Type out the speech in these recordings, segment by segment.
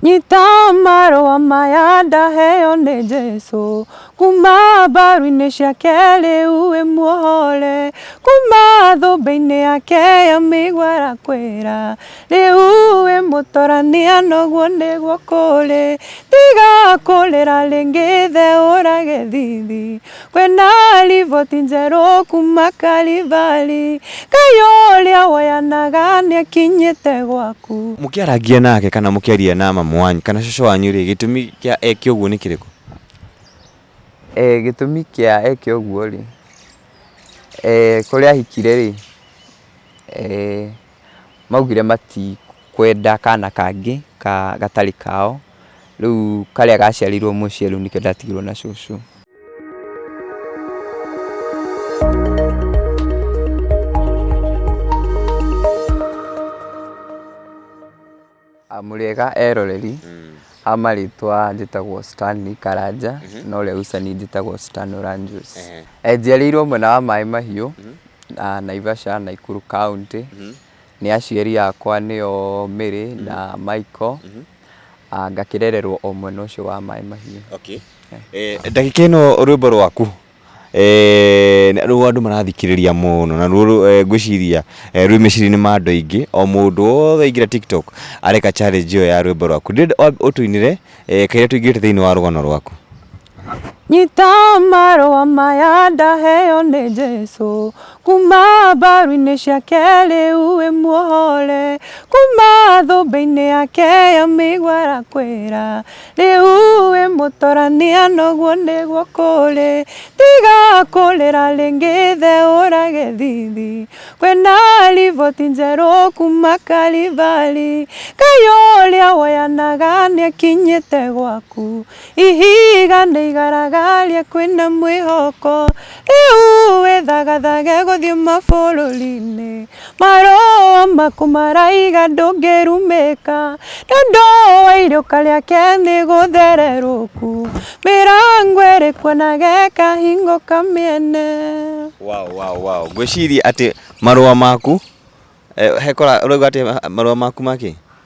Nyita marũa maya ndaheo nĩ Jesu, kuma mbaru-inĩ ciake rĩu wĩ muohore, kuma thũmbĩ-inĩ yake ya mĩigua arakwĩra, rĩu wĩ mũtorania noguo nĩguo kũrĩ, tiga kũrĩra rĩngĩ the ũrage thithi. Kwĩna riboti njerũ kuma Kalivari, Ngai ũrĩa woyanaga nĩekinyĩte gwaku. Mũkĩarangia nake kana mũkĩaria na mamu wanyu kana cũcũ wanyu-rĩ, gĩtũmi kĩa eke ũguo nĩ kĩrĩkũ? Gĩtũmi kĩa eke ũguo-rĩ, kũrĩa ahikire-rĩ maugire matikwenda kana kangĩ gatarĩ kao, rĩu karĩa gaciarirwo mũciĩ rĩu nĩkĩo ndatigirwo na cũcũ. Mũrĩega eroreri a marĩtwa njĩtagwo Stanley Karanja na ũrĩa ũcani njĩtagwo Stan Oranjus. Njiarĩirwo mwena wa Maĩ Mahiũ na Naivasha Naikuru County. Nĩ aciari akwa nĩo Mary na Michael ngakĩrererwo o mwena ũcio wa Maĩ Mahiũ. Okay. Ndagĩka ĩno rwĩmbo rwaku Rĩu andũ marathikĩrĩria mũno na ngwĩciria rwĩ meciria-inĩ ma andũ aingĩ, o mũndũ wothe aingĩra TikTok areka challenge ĩyo ya rwĩmbo rwaku. Ndĩrenda ũtũinĩre kairĩa tũingĩrĩte thĩinĩ wa rũgano rwaku. Nyita marũa maya ndaheo nĩ Jesũ, kuma mbaru-inĩ ciake rĩu wĩ muohore, kuma thũmbĩ-inĩ yake ya mĩigua arakwĩra, Rĩu wĩ mũtorania noguo nĩguo kũrĩ, tiga kũrĩra rĩngĩ ithe ũrage thithi. Kwĩna riboti njerũ kuma Karivari, Ngai ũrĩa woyanaga nĩakinyĩte gwaku. Ihiga nĩ igaragaria kwĩna mwĩhoko, rĩu wĩthagathage gũthiĩ mabũrũri-inĩ. Marũa maku maraiga ndũngĩrumĩka, Nĩũndũ wa iruka rĩake nĩ gũthererũku, Mĩrango ĩrĩ kuo na gekahingũka mĩene. Wow, wow, wow. Ngwĩciria atĩ marũa maku, eh, hekora, ũrauga atĩ marũa maku makĩ?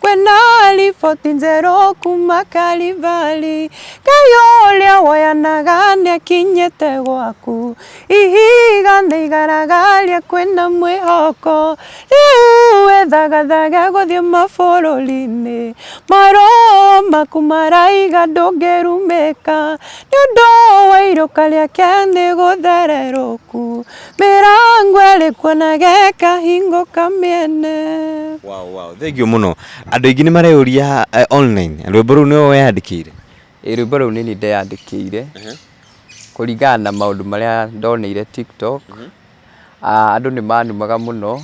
kwenda riboti njerũ kuma Kalivari. Ngai ũrĩa woyanaga nĩakinyĩte gwaku, ihiga nĩ igaragaria kwĩna mwĩhoko. Rĩu wĩthagathage gũthiĩ mabũrũri-inĩ, maroho maku maraiga ndũngĩrumĩka, nĩ ũndũ wa iruka rĩake nĩ gũthererũku. mĩrango ĩrĩkwo na gekahingũka mĩene Wow, wow. Thengio mũno. Andũ aingĩ nĩ mareyũria eh, online. Rwĩmbo rũu nĩwe weyandĩkĩire. Ĩ, rwĩmbo rũu nĩ niĩ ndeyandĩkĩire kũringana na maũndũ marĩa ndoneire tiktok Ah, andũ nĩ manumaga mũno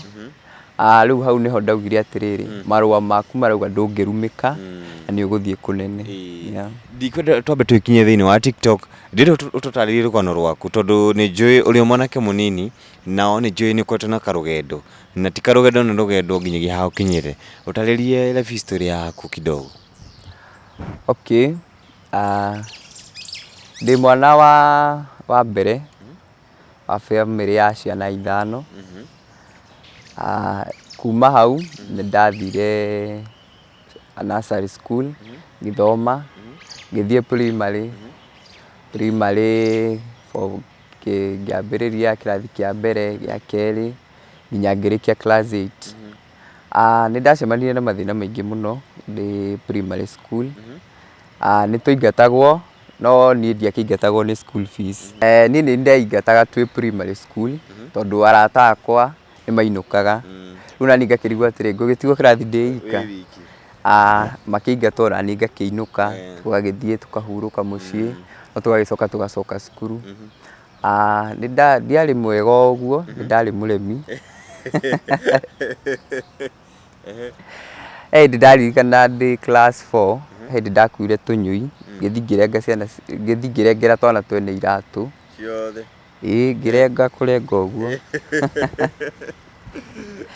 Ah, rĩu hau nĩho ndaugire atĩrĩrĩ mm. marũa maku marauga ndũngĩrumĩka mm. na nĩ ũgũthiĩ kũnene yeah. ndikwenda twambe twĩkinye thĩinĩ wa tiktok ndĩrĩ ũtũtarĩrie rũgano rwaku tondũ nĩ njũĩ ũrĩ mwanake mũnini nao nĩ njũĩ nĩ ũkoretwo na karũgendo na ti karũgendo na rũgendo nginyagia haha ũkinyĩre ũtarĩrie life history yaku kidogo okay uh, ndĩ mwana wa wa mbere wa bamĩrĩ ya ciana ithano. Kuma hau nĩ ndathire nursery school ngĩthoma, ngĩthiĩ primary, primary ngĩambĩrĩria kĩrathi kĩa mbere, gĩa kerĩ nginya ngĩrĩkia class eight. Nĩ ndacemanirie na mathĩna maingĩ mũno ndĩ primary school. Nĩ twaingatagwo no niĩ ndiakĩingatagwo nĩ school fees. Niĩ nĩ ndaingataga twĩ primary school tondũ arata akwa nĩ mainũkaga. Rĩu naniĩ ngakĩrigwo atĩrĩ, ngũgĩtigwo kĩrathi ndĩ ika? Makĩingata o naniĩ ngakĩinũka, tũgagĩthiĩ tũkahurũka mũciĩ, no tũgagĩcoka tũgacoka cukuru. Ndiarĩ mwega o ũguo, nĩ ndarĩ mũremi. He hĩndĩ ndaririkana ndĩ class four, he hĩndĩ ndakuire tũnyũi, ngĩthiĩ ngĩrengera twana twene iratũ. Ĩĩ ngĩrenga kũrenga ũguo.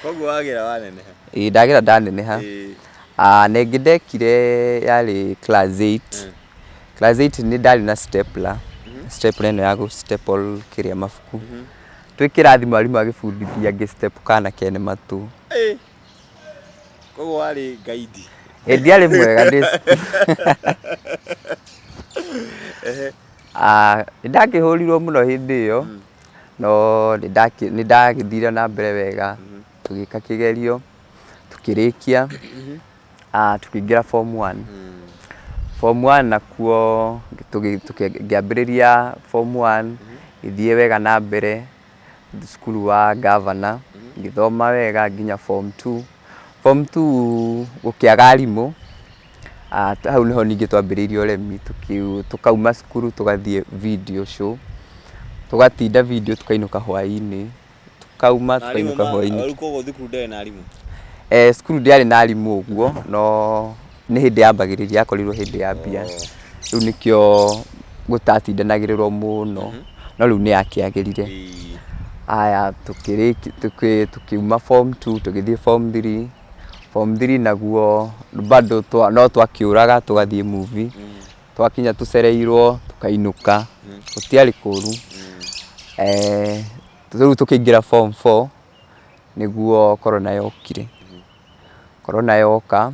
Koguo wagĩra waneneha? Ĩĩ ndagĩra ndaneneha. Ĩĩ. Ah, na ĩngĩ ndekire yarĩ class 8. Mm. Class 8 nĩ ndarĩ na stapler. Mhm. Stapler ĩno ya gũ staple kĩrĩa mabuku. Mhm. Twĩ kĩrathi mwarimũ agĩbundithia ngĩ step kana kene matũ. Ĩĩ. Koguo warĩ gaidi. Ĩĩ ndiarĩ mwega ndĩ Ehe. Ah, nĩndakĩhũrirwo mũno hĩndĩ ĩyo. Mm. no nĩndagĩthire na mbere wega tũgĩka kĩgerio tũkĩrĩkia tũkĩingĩra form one. Form one nakuo ngĩambĩrĩria form one ngĩthiĩ wega na mbere cukuru wa ngabana ngĩthoma wega nginya form two. Form two gũkĩaga arimũ. Hau nĩho ningĩ twambĩrĩirie ũrĩmi, tũkauma cukuru tũgathiĩ video show, tũgatinda video tũkainũka hwainĩ, tũkauma tũkainũka hwainĩ. Rĩu koguo thukuru ndĩarĩ na arimũ? Eh, cukuru ndĩarĩ na arimũ ũguo, no nĩ hĩndĩ yambagĩrĩria yakorirwo hĩndĩ ya mbia. Rĩu nĩkĩo gũtatindanagĩrĩrwo mũno, no rĩu nĩ yakĩagĩrire. Haya tũkiuma form two tũgĩthiĩ form three. Form three naguo bado no twakĩũraga tũgathiĩ movie. Twakinya tũcereirwo tũkainũka. Gũtiarĩ kũru. Rĩu tũkĩingĩra form four nĩguo Corona yokire. Corona yoka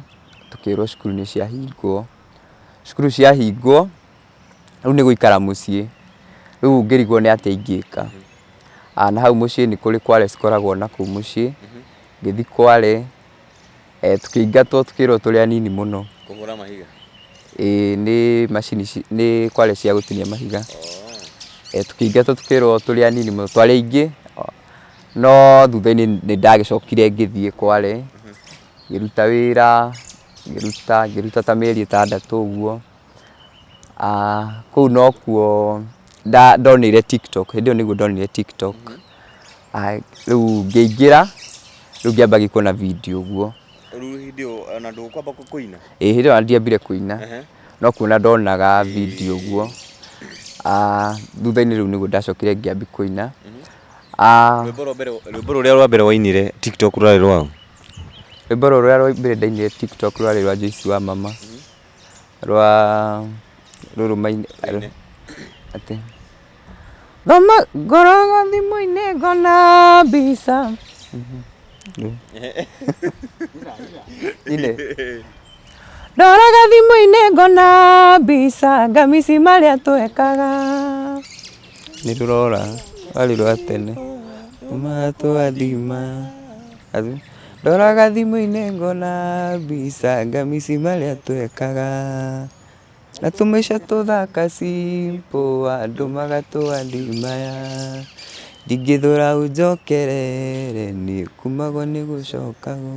tũkĩrwo cukuru nĩ ciahingwo. Cukuru ciahingwo rĩu nĩ gũikara mũciĩ. Rĩu ngĩrigwo nĩ atĩa ingĩka. Na hau mũciĩ nĩ kũrĩ kware cikoragwo nakũu mũciĩ. Ngĩthiĩ Kwale, tũkĩingatwo tũkĩrwo tũrĩ anini mũno. Kũhũra mahiga? Ĩĩ nĩ macini ici, nĩ kware cia gũtinia mahiga. Tũkĩingatwo tũkĩrwo tũrĩ anini mũno, twarĩ aingĩ, no thutha-inĩ nĩ ndagĩcokire ngĩthiĩ Kwale, ngĩruta wĩra, ngĩruta, ngĩruta ta mĩeri ĩtandatũ ũguo. Kũu nokuo ndonire Tiktok, hĩndĩ ĩyo nĩguo ndonire Tiktok. Rĩu ngĩingĩra, rĩu ngĩamba gĩkuona video ũguo. Rĩu hĩndĩ ĩyo ona ndũkwamba kũina? Ĩĩ hĩndĩ ĩyo ndiambire kũina, no kuona ndonaga video ũguo. Thutha-inĩ rĩu nĩguo ndacokire ngĩambia kũina. Rwĩmbo rũrĩa rwa mbere wainire TikTok rwarĩ rwa ũ? Rwĩmbo rũrĩa rwa mbere ndainire TikTok rwarĩ rwa Joyce wa mama, rwa rũrũ maini atĩ. Thoma ngoroga thimũ-inĩ ngona mbica. Ine. Ndoraga thimũ-inĩ ngona mbica ngamici marĩa twekaga. Nĩ rũrora rwarĩ rwa tene. Matwathima. Athu. Ndoraga thimũ-inĩ ngona mbica ngamici marĩa twekaga. Na tũmaica tũthaka simple andũ magatũadimaya Ndingĩthũra ũnjokerere niĩ kumagwo nĩ gũcokagwo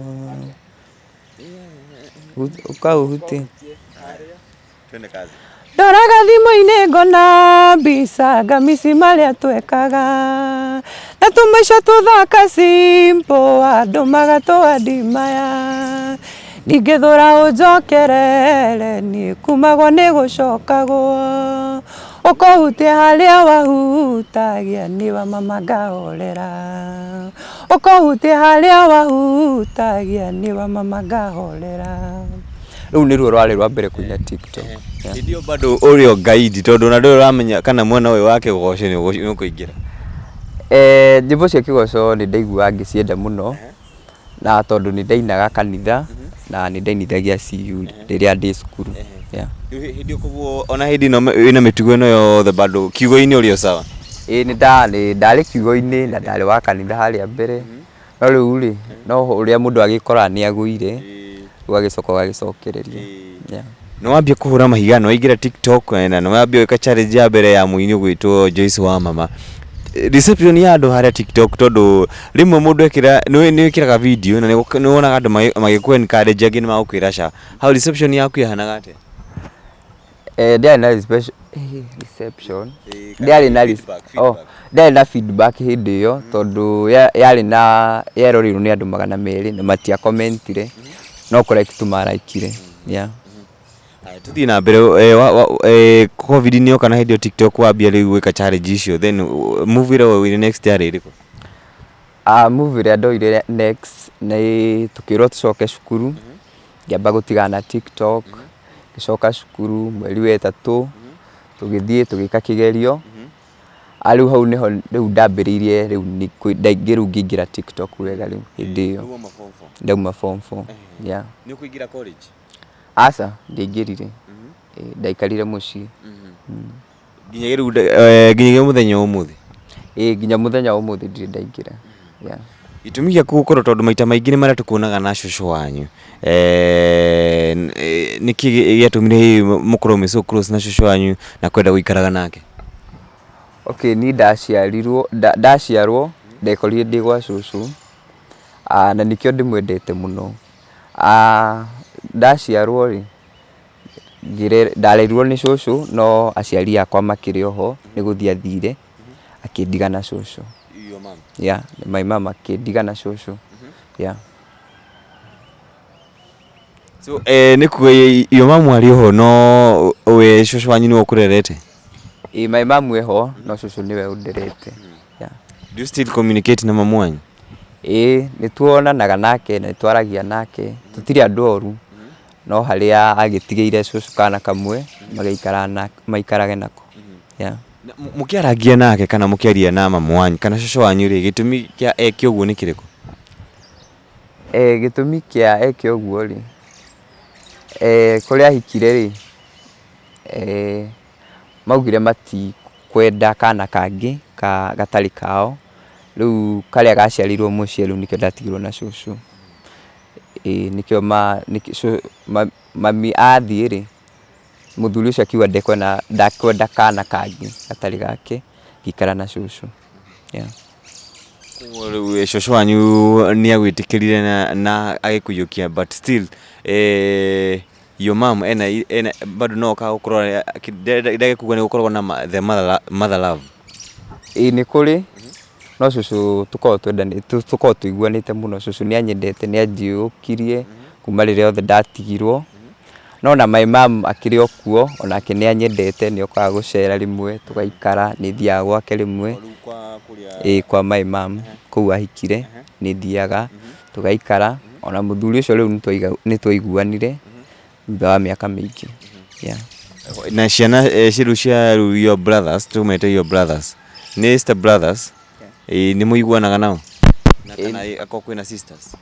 Ũkaũhutia Ndoraga thimũ-inĩ ngona mbica ngamici marĩa twekaga Na tũmaica tũthaka simple andũ magatũadimaya Ndingĩthũra ũnjokerere niĩ kumagwo nĩ gũcokagwo ũkũhutia harĩa wahutagia niĩ wa mama ngahorera ũkũhutia harĩa wahutagia niĩ wa mama ngahorera rũu nĩruo rwarĩ rwa mbere kũina tiktok hĩndĩ ĩyo bado ũrĩ o gaidi tondũ ona ndũrĩ ũramenya kana mwena ũyũ wa kĩgoco nĩ ũkũingĩra Eh, nyĩmbo cia kĩgoco nĩ ndaiguaga ngĩcienda mũno na tondũ nĩ ndainaga kanitha na nĩ ndainithagia CU rĩrĩa ndĩ cukuru. Yeah. Rĩu hĩ- hĩndĩ ĩyo koguo ona hĩndĩ ĩno me- wĩna mĩtugo ĩno yothe bado kiugo-inĩ ũrĩ o sawa Ĩĩ nĩ nda- nĩ ndarĩ kiugo-inĩ na ndarĩ wa kanitha harĩa mbere no rĩu rĩ no ũrĩa mũndũ agĩkoraga nĩ agũire ũgagĩcoka ũgagĩcokereria. Yeah. Nĩ wambia kũhũra mahiga, nĩ waingĩra TikTok eh, na nĩ wambia gwĩka challenge ya mbere ya mũini ũgwĩtwo Joyce wa mama. Eh, Reception ya andũ harĩa TikTok tondũ rĩmwe mũndũ ekĩra nĩ nĩ wĩkĩraga video na nĩ gũk- nĩ wonaga andũ magĩ- magĩkũ encourage angĩ nĩ magũkwĩra ca. Hau reception yaku yahanaga atĩa? Eh, ndiarĩ na reception- eh, reception Eh, kana ndiarĩ na re- feedback, oh, feedback. ndiarĩ na feedback hĩndĩ ĩyo tondũ ya- yarĩ na yeroreirwo nĩ andũ magana merĩ na matiakomentire no kũreki tu maraikire yeah. Haya, tuthiĩ na mbere eh, wa- wa- eh, covid nĩ yoka na hĩndĩ ĩyo tiktok wambia rĩu gwĩka challenge icio then uh, move ĩrĩa woire next yarĩ ĩrĩkũ Ah, move ĩrĩa ndoire next nĩ tũkĩrwo tũcoke cukuru ngĩamba gũtigana na tiktok ngĩcoka cukuru mweri wa ĩtatũ tũgĩthiĩ tũgĩka kĩgerio Rĩu hau nĩho rĩu ndambĩrĩirie rĩu ndaingĩ rĩu ngĩingĩra TikTok wega rĩu hĩndĩ ĩyo. Ndauma form four. Yeah. Nĩ ũkũingĩra college? Aca, ndiaingĩrire. Ndaikarire mũciĩ. Nginyagia rĩu nginyagia mũthenya wa ũmũthĩ? Ĩĩ nginya mũthenya wa ũmũthĩ ndirĩ ndaingĩra. yeah. gĩtũmi gĩaku gũkorwo tondũ maita maingĩ nĩ marĩa tũkuonaga na cũcũ wanyu Eh, n- eh, nĩ kĩ gĩ- gĩatũmire hihi mũkorwo mwĩ so close na cũcũ wanyu na kwenda gũikaraga nake okay niĩ ndaciarirwo nda- ndaciarwo ndekorire ndĩ gwa cũcũ Ah, na nĩkĩo ndĩmwendete mũno Ah, ndaciarwo rĩ ngĩre- ndarerirwo nĩ cũcũ no aciari akwa makĩrĩ oho nĩ gũthiĩ athire akĩndiga na cũcũ Your mom. yeah, my mom akĩndiga na cũcũ yeah. So, eh, nĩ kuga yo mamu arĩ oho no we cũcũ wanyu nĩwe ũkũrerete Ĩ, my mom e ho no cũcũ nĩwe ũnderete yeah. do you still communicate na mamu wanyu ĩ nĩ tuonanaga nake na nĩ twaragia nake tũtirĩ andũ oru no harĩa agĩtigĩire cũcũ kana kamwe magĩikara na- maikarage nako yeah. Na mũ- mũkĩarangia nake kana mũkĩaria na mamu wanyu kana cũcũ wanyu rĩ gĩtũmi kĩa eke ũguo nĩ kĩrĩkũ Eh, gĩtũmi kĩa eke ũguo rĩ, eh, kũrĩa ahikire rĩ, eh, maugire matikwenda kana kangĩ ka gatarĩ kao, rĩu karĩa gaciarirwo mũciĩ rĩu nĩkĩo ndatigirwo na cũcũ. Ĩĩ nĩkĩo ma, nĩkĩ cũ, ma, mami athiĩ rĩ. Mũthuri ũcio akiuga ndekwenda ndekwenda kana kangĩ gatarĩ gake, ngĩikara na cũcũ. Yeah. Koguo rĩu ĩ, cũcũ wanyu nĩ agwĩtĩkĩrire na, na agĩkũiyũkia but still eh, your mom ena, ena bado no okaga gũkũrora eh, ki- nda- nda- ndagĩkuga nĩ gũkoragwo na ma- the mother, lo- mother love Ĩĩ nĩ kũrĩ, no cũcũ tũkoragwo twendanĩte, tũ- tũkoragwo tũiguanĩte mũno. Cũcũ nĩ anyendete, nĩ anjiyũkirie, kuma rĩrĩa othe ndatigirwo. No na my mum akĩrĩ o kuo, o nake nĩ anyendete, nĩ okaga gũcera rĩmwe, tũgaikara, nĩ thiaga gwake rĩmwe, ĩĩ kwa my mum, kũu ahikire, nĩ thiaga, tũgaikara, o na mũthuri ũcio rĩu nĩ twaiguanire, thutha wa mĩaka mĩingĩ. Na ciana rĩu cia your brothers, tũmete your brothers, nĩ step brothers? Ĩĩ nĩ mũiguanaga nao? Na kana ĩ akorwo kwĩna sisters?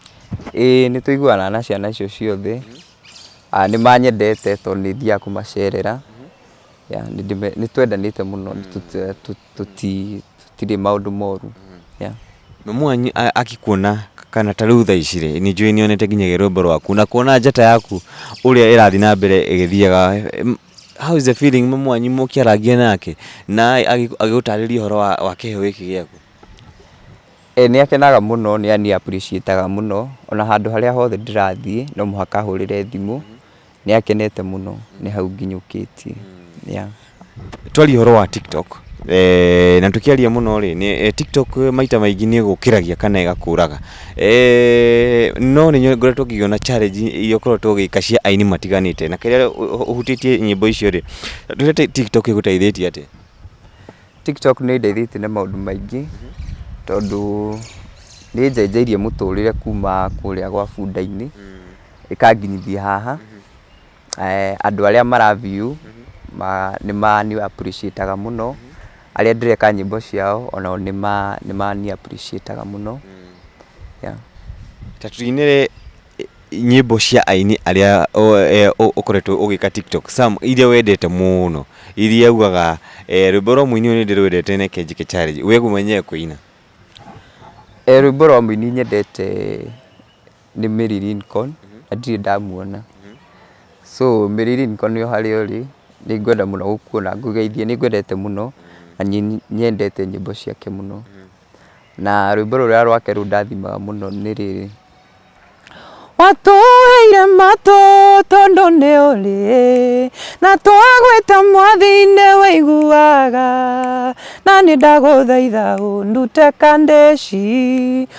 Ĩĩ nĩ tũiguanaga na ciana icio ciothe. Nĩ manyendete tondũ nĩ thiaga kũmacerera. Nĩ twendanĩte mũno tũtirĩ maũndũ moru. Mamu wanyu agĩkuona kana ta rĩu thaa ici rĩ, nĩ njũĩ nĩ onete nginyagia rwĩmbo rwaku. Na kuona njata yaku ũrĩa ĩrathiĩ na mbere ĩgĩthiaga How is the feeling mũ- mwanyu mũkĩarangia nake na agĩ- agĩgũtarĩria ũhoro wa, wa kĩheo gĩkĩ gĩaku E, nĩ akenaga mũno nĩ nĩ appreciataga mũno ona handũ harĩa hothe ndĩrathiĩ no mũhaka ahũrĩre thimũ nĩ akenete mũno nĩ hau nginyũkĩtie yeah. twarie ũhoro wa tiktok e, na tũkĩaria mũno rĩ nĩ- e, tiktok maita maingĩ nĩ ĩgũkĩragia kana ĩgakũraga Eeh no nĩ nyo ngoretwo ngĩona challenge iria ũkoretwo ũgĩka cia aini matiganĩte, na kĩrĩa ũhutĩtie nyĩmbo icio rĩ, tuge ta TikTok ĩgũteithĩtie atĩa? TikTok nĩ ĩndeithĩtie na maũndũ maingĩ, tondũ nĩ ĩnjenjeirie mũtũrĩre kuuma kũrĩa gwa bunda-inĩ, ĩkanginyithia haha. andũ arĩa mara view nĩ mani appreciate aga mũno, arĩa ndĩreka nyĩmbo ciao onao nĩ mani appreciate aga mũno. Ta tũinĩre nyĩmbo cia aini arĩa ũkoretwo ũgĩka TikTok, some iria wendete mũno, iria ugaga rwĩmbo rwa mũini ũyũ nĩ ndĩrwendete reke njĩke challenge, we mwenyewe kũina? Rwĩmbo rwa mũini nyendete Nĩ Mary Lincoln, na ndirĩ ndamuona. So Mary Lincoln o harĩa ũrĩ, nĩ ngwenda mũno gũkuona ngũgeithie. Nĩ ngwendete mũno, na nĩ nyendete nyĩmbo ciake mũno. Na rwĩmbo rũrĩa rwake rũndathimaga mũno nĩ rĩrĩ, Watũheire matũ tondũ nĩ ũrĩ, na twagwĩta mwathi nĩ ũiguaga, na nĩ ndagũthaitha ũndute kandĩci.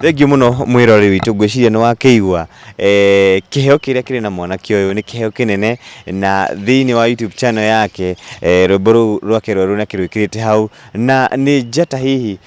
Thengiũ mũno mwĩrori witũ, ngwĩciria nĩ wakĩigua kĩheo kĩrĩa kĩrĩ na mwanake ũyũ nĩ kĩheo kĩnene, na thĩiniĩ wa YouTube channel yake rwĩmbo rũu rwake rwerũ nĩ akĩrwĩkĩrĩte hau, na nĩ njata hihi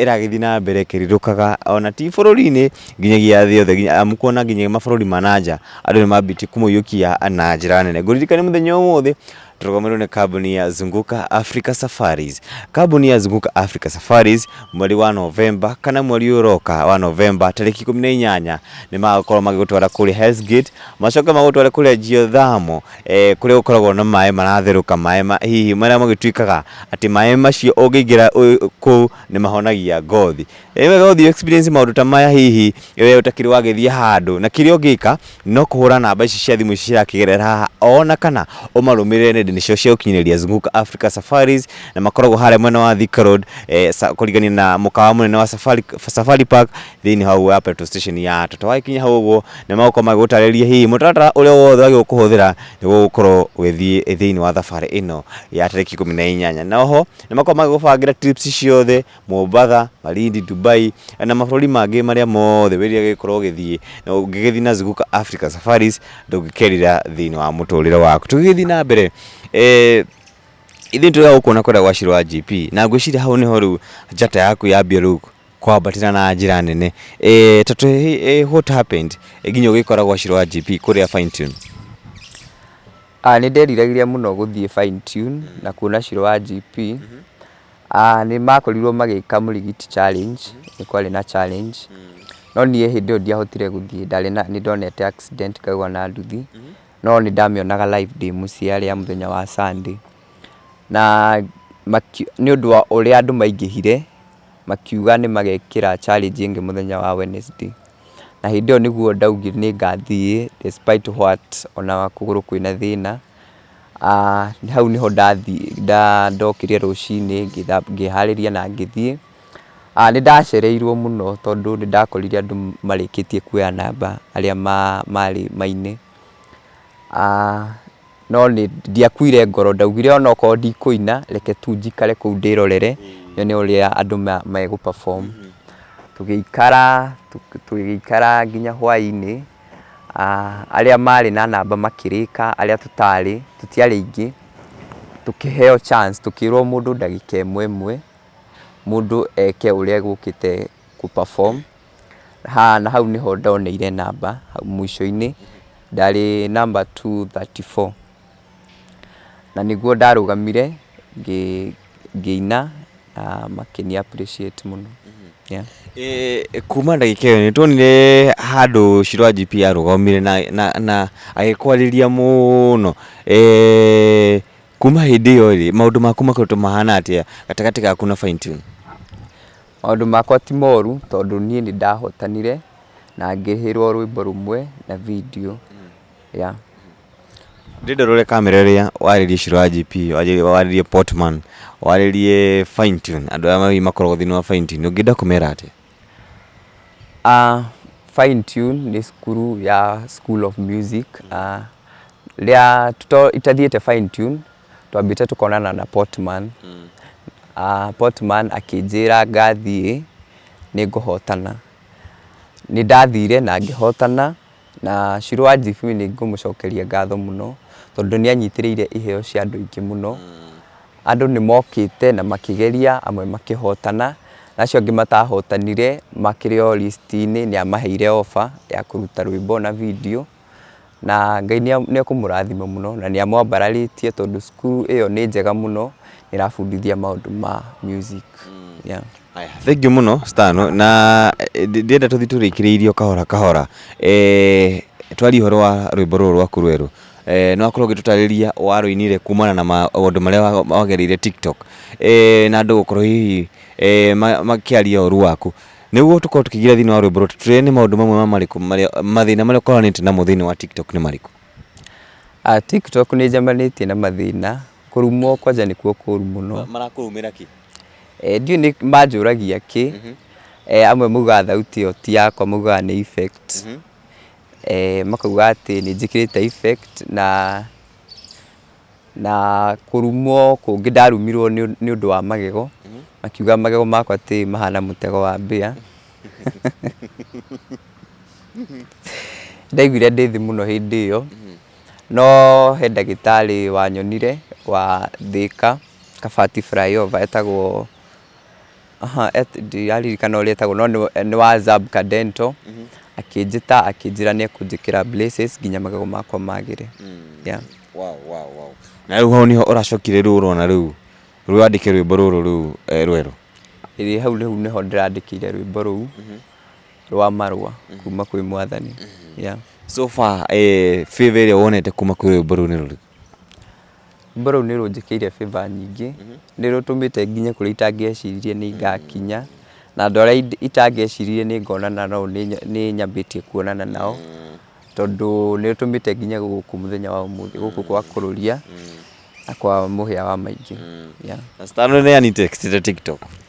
ĩragĩthiĩ na mbere ĩkĩrirũkaga ona ti bũrũri-inĩ nginyagia thĩ yothe amu kuona nginya mabũrũri ma na nja andũ nĩ mambĩtie kũmũiyũkia na njĩra nene. Ngũririkanie mũthenya ũmũthĩ Tũrũgamĩrĩirwo nĩ kambuni ya Zunguka Africa Safaris. Kambuni ya Zunguka Africa Safaris mweri wa Novemba kana mweri ũyũ ũroka wa Novemba tarĩki ikũmi na inyanya nĩ magakorwo magĩgũtwara kũrĩa Hell's Gate macoke magũtware kũrĩa Geothermal eh, kũrĩa gũkoragwo na maĩ maratherũka maĩ ma, hihi marĩa magĩtuĩkaga atĩ maĩ macio ũngĩingĩra ũ- kũu nĩ mahonagia ngothi Nĩ wega ũthiĩ experience maũndũ ta maya hihi we ũtakĩrĩ wagĩthiĩ handũ, na kĩrĩa ũngĩka no kũhũra namba ici cia thimũ ici cirakĩgerera haha, ona kana ũmarũmĩrĩre nenda-inĩ ciao cia ũkinyanĩria Zunguka Africa Safaris, na makoragwo harĩa mwena wa Thika Road kũrigania na mũkawa mũnene wa Safari Park thĩinĩ hau wa petrol station ya Total. Wakinya hau ũguo nĩ magũkorwo magĩgũtarĩria hihi mũtaratara ũrĩa wothe wagĩrĩirwo kũhũthĩra nĩguo gũkorwo ũgĩthiĩ thĩinĩ wa thabarĩ ĩno ya tarĩki ikũmi na inyanya. Na oho nĩ makoragwo magĩgũbangĩra trips ciothe Mombatha, Malindi, Dubai na mabũrũri mangĩ marĩa mothe wĩrira gĩkorwo ũgĩthiĩ na ũngĩgĩthiĩ na Zuguka Africa Safaris ndũngĩkerira thĩinĩ wa mũtũrĩre waku tũgĩgĩthiĩ na mbere eh, ithuĩ tũrĩa gũkuona kwenda gwa Shirũ wa GP na ngwĩciria hau nĩho rĩu njata yaku yambia rĩu kwambatĩra na njĩra nene eh, tatu eh, what happened eh, nginya ũgĩkora gwa Shirũ wa GP kũrĩa fine tune Ah, nĩ nderiragĩria mũno gũthiĩ fine tune na kuona Shirũ wa GP Nĩ makorirwo magĩka Mũrigiti challenge, nĩ kwarĩ na challenge, no niĩ hĩndĩ ĩyo ndiahotire gũthiĩ ndarĩ na, nĩ ndonete accident ngaigwa na nduthi, no nĩ ndamĩonaga live ndĩ mũciĩ yarĩ ya mũthenya wa Sunday. Na nĩ ũndũ wa ũrĩa andũ maingĩhire, makiuga nĩ magekĩra challenge ĩngĩ mũthenya wa Wednesday. Na hĩndĩ ĩyo nĩguo ndaugire nĩ ngathiĩ despite what ona kũgũrũ kwĩna thĩna. Hau nĩho ndokire rũcinĩ ngĩharĩria na ngĩthiĩ. Nĩ ndacereirwo mũno tondũ nĩ ndakorire andũ marĩkĩtie kuoya namba arĩa marĩ mainĩ. No nĩ ndiakuire ngoro ndaugire ona okorwo ndikũina reke tu njikare kũu ndĩrorere nyone ũrĩa andũ megũ perform. Tũgĩikara tũgĩikara nginya hwainĩ. arĩa marĩ na namba makĩrĩka, arĩa tũtarĩ, tũtiarĩ aingĩ, tũkĩheo chance, tũkĩrwo mũndũ ndagĩka ĩmwe ĩmwe, mũndũ eke ũrĩa egũkĩte gũ perform, na hau nĩho ndoneire namba, mũico-inĩ ndarĩ namba two thirty four. Na nĩguo ndarũgamire ngĩina na makĩni appreciate mũno. Kuma ndagĩka ĩyo nĩ tuonire handũ Shirũ IGP arũgamire na agĩkwarĩria mũno. Kuma hĩndĩ ĩyo rĩ, maũndũ maku makoretwo mahana atĩa gatagatĩ gaku na Fine Tune? Maũndũ makwa ti moru tondũ niĩ nĩ ndahotanire na ngĩhĩrwo rwĩmbo rũmwe na video. yeah. ndĩrenda ũrore kamera ĩrĩa warĩrie ciro ya gp warĩrie- warĩrie portman warĩrie fine tune andũ aya ma- makoragwo thĩinĩ wa fine tune ũngĩenda kũmera atĩa Uh, Fine Tune nĩ cukuru ya School of Music uh, rĩa tuto- itathiĩte Fine Tune twambĩte tũkonana na Portman mm. uh, Portman akĩnjĩra ngathiĩ nĩ ngũhotana nĩ ndathire na ngĩhotana Na Shirũ wa Njibui nĩ ngũmũcokeria ngatho mũno, tondũ nĩ anyitĩrĩire iheo cia andũ aingĩ mũno. Andũ nĩ mokĩte na makĩgeria, amwe makĩhotana, na acio angĩ matahotanire makĩrĩ o list inĩ nĩ amaheire offer ya kũruta rwĩmbo na video. Na Ngai nĩ ekũmũrathima mũno na nĩ amwambararĩtie tondũ cukuru ĩyo nĩ njega mũno, ĩrabundithia maũndũ ma music. Haya, thengiũ mũno star no na eh, ndi- ndĩrenda tũthi tũrĩkĩrĩirie o kahora kahora eh, twarie ũhoro wa rwĩmbo rũrũ rwaku rwerũ eh, no akorwo ũgĩtũtarĩria warũinire kumana na maũndũ marĩa wa- wagereire tiktok eh, na andũ gũkorwo hihi eh, ma- makĩaria ũru waku nĩguo tũkorwo tũkĩgira thĩinĩ wa rwĩmbo rũrũ tũtũrĩre nĩ maũndũ mamwe ma marĩkũ marĩa mathĩna marĩa ũkoranĩte namo thĩinĩ wa tiktok nĩ marĩkũ Ah, tiktok nĩ njamanĩtie na mathĩna kũrumwo kwanja nĩkuo kũru mũno marakũrumĩra kĩ Ndiũĩ nĩ manjũragia kĩ, amwe maugaga thauti ĩyo ti yakwa maugaga nĩ effect, makauga atĩ nĩ njĩkĩrĩte effect na na kũrumwo kũngĩ ndarumirwo nĩ ũndũ wa magego, makiuga magego makwa atĩ mahana mũtego wa mbĩa. Nĩ ndaiguire ndĩ thĩ mũno hĩndĩ ĩyo. No he ndagĩtarĩ wanyonire wa Thĩka, Kabati Flyover etagwo, ndiraririkana ũrĩa etagwo no nĩ wa Zabka Dental, akĩnjĩta akĩnjĩra nĩ ekũnjĩkĩra braces nginya magego makwa magĩre. Na rĩu hau nĩho ũracokire rĩu ũrona rĩu rĩu wandĩke rwĩmbo rũrũ rĩu rwerũ? Ĩĩ hau rĩu nĩho ndĩrandĩkĩire rwĩmbo rũu. rwa marũa kuma kwĩ mwathani yeah. so far eh, favor ĩrĩa wonete kuma kwĩ rwĩmbo rũu nĩ rũrĩkũ rwĩmbo rũu nĩ rũnjĩkĩire favor nyingĩ nĩ rũtũmĩte nginya kũrĩa itangĩeciririe nĩ ngakinya na andũ arĩa ind- itangĩeciririe nĩ ngonana nao nĩ nya- nĩ nyambĩtie kuonana nao tondũ nĩ rũtũmĩte nginya gũkũ mũthenya wa ũmũthĩ gũkũ kwa kũrũria na kwa mũhĩa wa maingĩ yeah. na citano nĩ ani text ta tiktok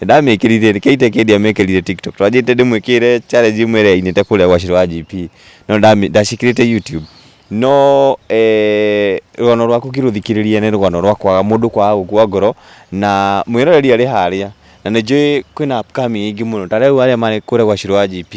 Nĩndamĩkĩrire reke ituĩke ndiamĩkĩrire tiktok twanjĩte ndĩmwĩkĩrĩre challenge ĩmwe ĩrĩa ainĩte kũrĩa gwa shiro wa JP no ndamĩ ndacĩkĩrĩte youtube no eeh rũgano rwaku ngĩrũthikĩrĩria nĩ rũgano rwa kwaga mũndũ kwaga gũkua ngoro na mwĩroreri arĩ harĩa na nĩnjũĩ kwĩna upcoming aingĩ mũno ta rĩu arĩa marĩ kũrĩa gwa shiro wa JP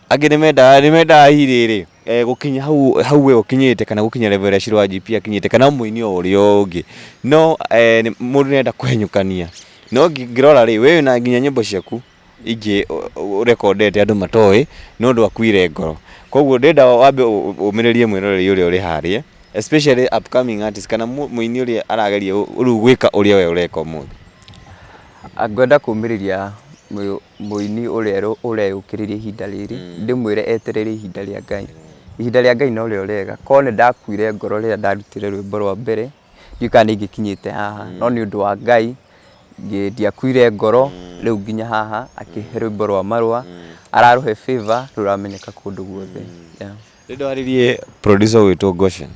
angĩ nĩmendaga nĩmendaga hi rĩrĩ. eh, gũkinya hau hau we ũkinyĩte kana gũkinya level ya Shiro wa GP akinyĩte kana mũini o ũrĩa ũngĩ no eh, nĩ- mũndũ nenda kũhenyũkania no ngi- ngĩrora rĩ we na nginya nyĩmbo ciaku ingĩ ũ- ũ- ũrekondete andũ matoĩ no ũndũ akuire ngoro koguo ndenda wambe ũ- ũ- ũmĩrĩrie mwĩroreri ũrĩa ũrĩ harĩa especially upcoming artist kana mũ- mũini ũrĩa arageria ũ- rĩu gwĩka ũrĩa we ũreka ũmũthĩ ngwenda kũmĩrĩria Mũini ũrĩa ũreyũkĩrĩria ihinda rĩrĩ, ndĩmwĩre eterere ihinda rĩa Ngai. Ihinda rĩa Ngai no rĩo rĩega. Korwo nĩ ndakuire ngoro rĩrĩa ndarutire rwĩmbo rwa mbere, ndiũĩ kana nĩ ingĩkinyĩte haha, no nĩ ũndũ wa Ngai, ndiakuire ngoro, rĩu nginya haha, akĩhe rwĩmbo rwa marũa, ararũhe favour, rĩu rũramenyeka kũndũ guothe. Rĩu ndwarĩrie producer witũ Goshen,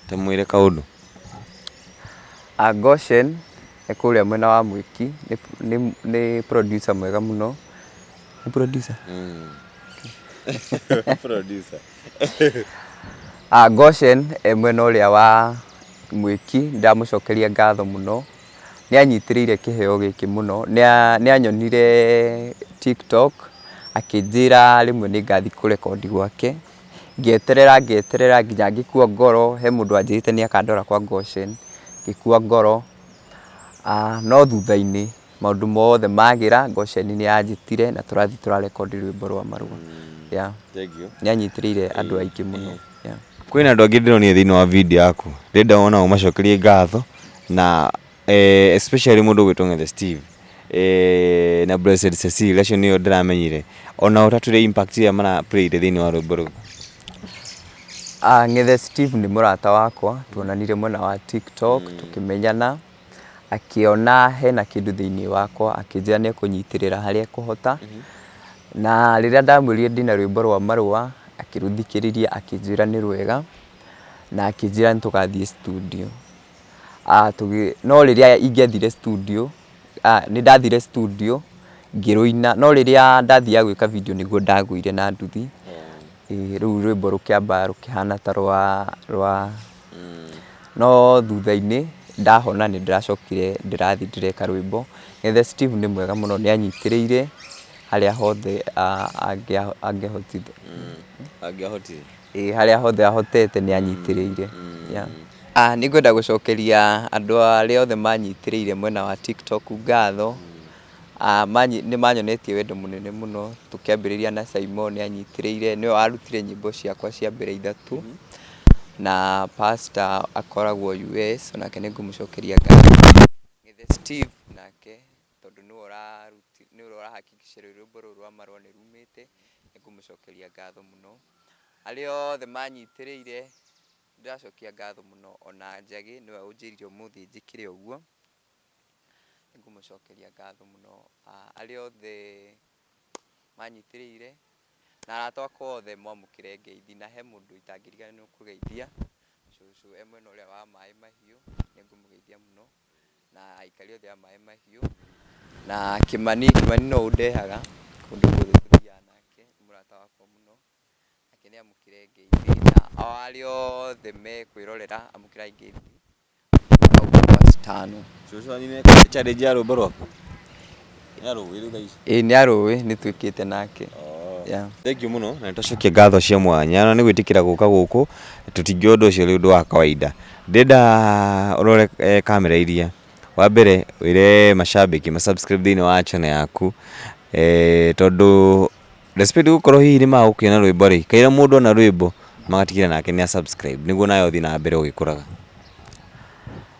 tũmwĩre kaũndũ. Goshen. e kũrĩa mwena wa Mwiki, nĩ, nĩ, nĩ producer mwega mũno. Nĩ producer? Producer. Ah, Goshen e mwena ũrĩa wa Mwĩki, ndamũcokeria ngatho mũno. Nĩ anyitĩrĩire kĩheo gĩkĩ mũno. Nĩ a, nĩ anyonire TikTok, akĩnjĩra rĩmwe nĩ ngathiĩ kũ record gwake. Ngĩeterera ngĩeterera nginya ngĩkua ngoro, he mũndũ wanjĩrĩte nĩ akandwara kwa Goshen, ngĩkua ngoro, no thutha-inĩ maũndũ mothe magĩra, Goshen nĩ yanjĩtire na tũrathiĩ tũra record rwĩmbo rwa marũa. Yeah. Nĩ anyitĩrĩire andũ aingĩ mũno. Yeah. Kwĩna andũ angĩ ndĩronire thĩinĩ wa video yaku, ndĩrenda onao ũmacokerie ngatho na eh, especially mundu gwitwo ngethe steve eh, na blessed cecil acio nio ndiramenyire ona utatwire impact iria mara played thiini wa rwimbo ruu Ah, Ng'ethe Steve nĩ mũrata wakwa, tuonanire mwena wa TikTok tũkĩmenyana, akĩona hena kĩndũ thĩinĩ wakwa, akĩnjĩra nĩ ekũnyitĩrĩra harĩa ekũhota. Na rĩrĩa ndamwĩrire ndĩna rwĩmbo rwa marũa, akĩrũthikĩrĩria akĩnjĩra nĩ rwega, na akĩnjĩra nĩ tũgathiĩ studio. ah tũgĩ, no rĩrĩa ingĩathire studio, ah nĩndathire studio ngĩrũina, no rĩrĩa ndathiaga gwĩka video nĩguo ndagũire na nduthi, ĩĩ rũu rwĩmbo rũkĩamba rũkĩhana ta rwa rwa, no thutha-inĩ ndahona nĩndĩracokire ndĩrathiĩ ndĩreka rwĩmbo, Ithe Steve nĩ mwega mũno nĩanyitĩrĩire harĩa hothe angĩa angĩahotire. Angĩahotire. Ĩĩ harĩa hothe ahotete nĩ anyitĩrĩire. Yeah. Ah, nĩ ngwenda gũcokeria andũ arĩa othe manyitĩrĩire mwena wa TikTok ngatho. Ah, manyi, nĩ manyonetie wendo mũnene mũno tũkĩambĩrĩria na Saimo nĩ anyitĩrĩire nĩwe warutire nyĩmbo ciakwa cia mbere ithatũ na pastor akoragwo US onake nĩ ngũmũcokeria ngatho. Ng'ethe Steve nake tondũ nĩwe ũraruti, nĩwe ũrahakikisha rwĩmbo rũrũ rwa marũa nĩ rumĩte, nĩ ngũmũcokeria ngatho mũno. Arĩa othe manyitĩrĩire, nĩ ndĩracokia ngatho mũno, ona Njagĩ nĩwe ũnjĩrire ũmũthĩ njĩkĩre ũguo, nĩ ngũmũcokeria ngatho mũno. Arĩa othe manyitĩrĩire, na arata akwa othe mwamũkĩre ngeithi, na he mũndũ itangĩriganĩrwo kũgeithia, cũcũ e mwena ũrĩa wa maĩ mahiũ, nĩ ngũmũgeithia mũno. na aikari othe a Maĩ Mahiũ, na Kĩmani, Kĩmani no ũndehaga kũndũ guothe tũthiaga nake, nĩ mũrata wakwa mũno, nake nĩ amũkĩre ngeithi, na ao arĩa othe mekwĩrorera amũkĩrai ngeithi. Cũcũ wanyu nĩ ekũhe challenge ya rwĩmbo rwaku? Nĩ arũĩ rĩu thaa ici. Ĩĩ nĩ arũĩ nĩ twĩkĩte nake. Yeah. Thengiũ mũno na nĩtũcokia ngatho cia mwanya na nĩ gwĩtĩkĩra gũka gũkũ tũtingĩoya ũndũ ũcio ũrĩ ũndũ wa kawaida. Ndĩrenda ũrore eh, kamera iria. Wa mbere wĩre macambĩki ma subscribe thĩinĩ wa channel yaku eh, tondũ despite gũkorwo hihi nĩ magũkĩona rwĩmbo rĩ, kaira mũndũ ona rwĩmbo magatigĩra nake nĩ a subscribe nĩguo nawe ũthiĩ na mbere ũgĩkũraga.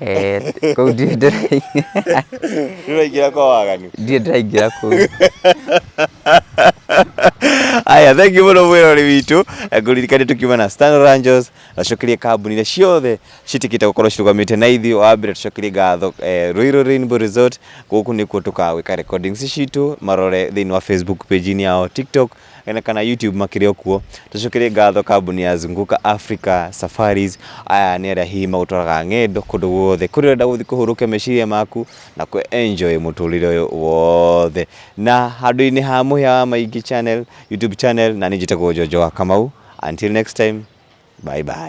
Eh, kũu ndiĩ ndĩrai- ndĩraingĩra kwa waganu ndiĩ ndĩraingĩra kũu aya thank you mũno mwĩrori witũ Eh, ngũririkane tukiuma na Standard Angels acokerie kambuni iria ciothe citikite gukorwo cirugamite na ithuĩ wa mbere tucokerie ngatho eh, Ruiru Rainbow Resort gũkũ nĩkuo tũkagwĩka recordings citũ marore thĩinĩ wa Facebook page inĩ yao TikTok na kana YouTube makĩrĩ o kuo. Tũcokere ngatho kambuni ya Zunguka Africa Safaris, aya nĩ arĩa hihi magũtwaraga ng'endo kũndũ guothe kũrĩa ũrenda gũthiĩ kũhũrũkia meciria maku na kũ enjoy mũtũrĩre ũyũ wothe. Na handũ-inĩ ha mũhĩa wa maingĩ channel, YouTube channel, na niĩ njĩtagwo Jojo wa Kamau. Until next time, bye bye.